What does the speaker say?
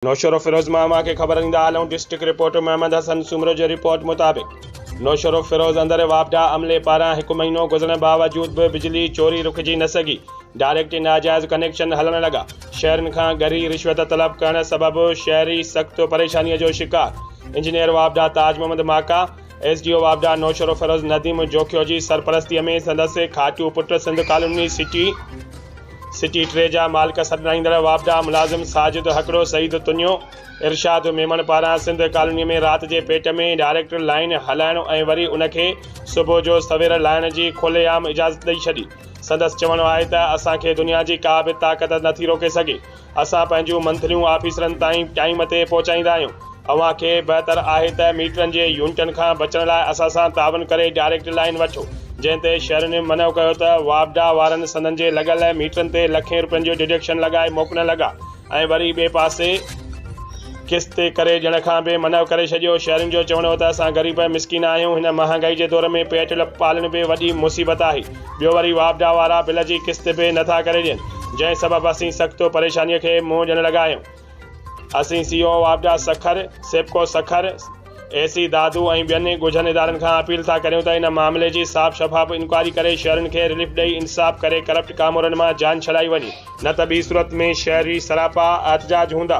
نوشهروفيروز مان اوهان کي خبر ڏيندا هلون ڊسٽرڪٽ رپورٽر محمد حسن سومرو جي رپورٽ مطابق نوشهروفيروز اندر واپڊا عملي پاران هڪ مهينو گذرڻ باوجود به بجلي چوري رڪجي نه سگهي ڊائريڪٽ ناجائز ڪنيڪشن هلڻ لڳا شهرين کان ڳري رشوت طلب ڪرڻ سبب شهري سخت پريشاني جو شڪار انجنيئر واپڊا Taj Muhammad Maka S D O واپڊا نوشهروفيروز نديم جوکيو جي سرپرستيء ۾ سندس کاٽو پٽ سنڌ ڪالوني سٽي سٽي ٽي جا مالڪ سڏرائيندڙ واپڊا ملازم ساجد هڪڙو سعيد تنيو ارشاد ميمڻ پاران سنڌ ڪالوني ۾ رات جي پيٽ ۾ ڊائريڪٽ لائين هلائڻ ۽ وري ان کي صبح جو سوير لائڻ جي کلي عام اجازت ڏئي ڇڏي سندس چوڻ آهي ته اسان کي دنيا جي ڪا به طاقت نٿي روڪي سگهي اسان پنهنجون منٿليون آفيسرن تائين ٽائيم تي پهچائيندا آهيون. اوهان کي بهتر آهي ته ميٽرن جي يونٽن کان بچڻ لاء اسان سان تعاون ڪري ڊائريڪٽ لائين وٺو. جنهن تي شهرين منهو ڪيو ته واپڊا وارن سندن جي لڳل ميٽرن تي لکين روپين جو ڊڊڪشن لڳائي موڪلڻ لڳا ۽ وري ٻئي پاسي قسط تي ڪري ڏيڻ کان به منهو ڪري ڇڏيو. شهرين جو چوڻ هو ته اسان غريب ۽ مسڪين آهيون، هن مهانگائي جي دور ۾ پيٽ پالڻ به وڏي مصيبت آهي. ٻيو وري واپڊا وارا بل جي قسط به نه ٿا ڪري ڏين جنهن سبب اسين سخت پريشاني کي منهن ڏيڻ لڳا آهيون اسين سي او واپڊا سکر سيپڪو سکر اي سي دادو ۽ ٻين ڳجهن ادارن کان اپيل ٿا ڪريون ته ان معاملي جي صاف شفاف انڪوائري ڪري شهرين کي رليف ڏئي انصاف ڪري ڪرپٽ ڪامورن مان جان ڇڏائي وڃي نه ته ٻي صورت ۾ شهري سراپا احتجاج هوندا.